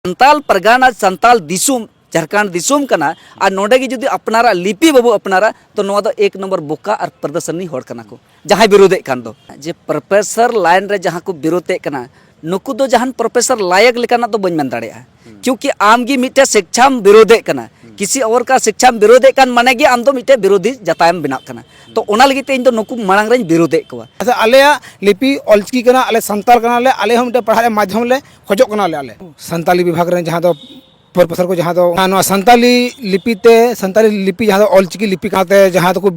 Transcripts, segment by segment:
ᱥᱟᱱᱛᱟᱞ ᱯᱟᱨᱜᱟᱱᱟ ᱥᱟᱱᱛᱟᱞ ᱫᱤᱥᱚᱢ ᱡᱷᱟᱨᱠᱷᱟᱸᱰ ᱫᱤᱥᱚᱢ ᱠᱟᱱᱟ ᱟᱨ ᱱᱚᱰᱮ ᱜᱮ ᱡᱩᱫᱤ ᱟᱯᱱᱟᱨᱟ ᱞᱤᱯᱤ ᱵᱟᱵᱚ ᱟᱯᱱᱟᱨᱟ ᱛᱚ ᱱᱚᱣᱟ ᱫᱚ ᱮᱠ ᱱᱚᱢᱵᱚᱨ ᱵᱚᱠᱟ ᱟᱨ ᱯᱨᱚᱫᱚᱨᱥᱚᱱᱤ ᱦᱚᱲ ᱠᱟᱱᱟ ᱠᱚ ᱡᱟᱦᱟᱸᱭ ᱵᱤᱨᱳᱫᱮᱫ ᱠᱟᱱ ᱫᱚ ᱡᱮ ᱯᱨᱚᱯᱷᱮᱥᱚᱨ ᱞᱟᱭᱤᱱ ᱨᱮ ᱡᱟᱦᱟᱸ ᱠᱚ ᱵᱤᱨᱳᱫᱮᱫ ᱠᱟᱱᱟ ᱱᱩᱠᱩ ᱫᱚ ᱡᱟᱦᱟᱱ ᱯᱨᱚᱯᱷᱮᱥᱚᱨ ᱞᱟᱭᱮᱠ ᱞᱮᱠᱟᱱᱟᱜ ᱫᱚ ᱵᱟᱹᱧ ᱢᱮᱱ ᱫᱟᱲᱮᱭᱟᱜᱼᱟ ᱠᱤᱭᱩᱠᱤ ᱟᱢ ᱜᱮ ᱢᱤᱫᱴᱮᱱ ᱥᱤᱠᱪᱷᱟᱢ ᱵᱤᱨᱳᱫᱮᱫ ᱠᱟᱱᱟ ᱠᱤᱥᱤ ᱚᱨ ᱠᱟ ᱥᱤᱠᱪᱷᱟᱢ ᱵᱤᱨᱳᱫᱮᱫ ᱠᱟᱱ ᱢᱟᱱᱮ ᱜᱮ ᱟᱢ ᱫᱚ ᱢᱤᱫᱴᱮᱱ ᱵᱤᱨᱳᱫᱷᱤ ᱡᱟᱛᱟᱭᱮᱢ ᱵᱮᱱᱟᱜ ᱠᱟᱱᱟ ᱛᱚ ᱚᱱᱟ ᱞᱟᱹᱜᱤᱫ ᱛᱮ ᱤᱧ ᱫᱚ ᱱᱩᱠᱩ ᱢᱟᱲᱟᱝ ᱨᱮᱧ ᱵᱤᱨᱳᱫᱮᱫ ᱠᱚᱣᱟ ᱟᱪᱪᱷᱟ ᱟᱞᱮᱭᱟᱜ ᱞᱤᱯᱤ ᱚᱞᱪᱤᱠᱤ ᱠᱟᱱᱟ ᱟᱞᱮ ᱥᱟᱱᱛᱟᱲ ᱠᱟᱱᱟᱞᱮ ᱟᱞᱮ ᱦᱚᱸ ᱢᱤᱫᱴᱮᱱ ᱯᱟᱲᱦᱟᱜ ᱨᱮᱭᱟᱜ ᱢᱟᱫᱽᱫᱷᱚᱢ ᱞᱮ ᱠᱷᱚᱡᱚᱜ ᱠᱟᱱᱟᱞᱮ ᱟᱞᱮ ᱥᱟᱱᱛᱟᱞᱤ ᱵᱤᱵᱷᱟᱜᱽ ᱨᱮ ᱡᱟᱦᱟᱸ ᱫᱚ ᱯᱨᱚᱯᱷᱮᱥᱚᱨ ᱠᱚ ᱡᱟᱦᱟᱸ ᱫᱚ ᱱᱚᱣᱟ ᱥᱟᱱᱛᱟᱞᱤ ᱞᱤᱯᱤ ᱛᱮ ᱥᱟᱱᱛᱟᱞᱤ ᱞᱤᱯᱤ ᱡᱟᱦᱟᱸ ᱫᱚ ᱚᱞᱪᱤᱠᱤ ᱞᱤᱯᱤ ᱠᱟᱛᱮ ᱡᱟᱦᱟᱸ ᱫᱚᱠᱚ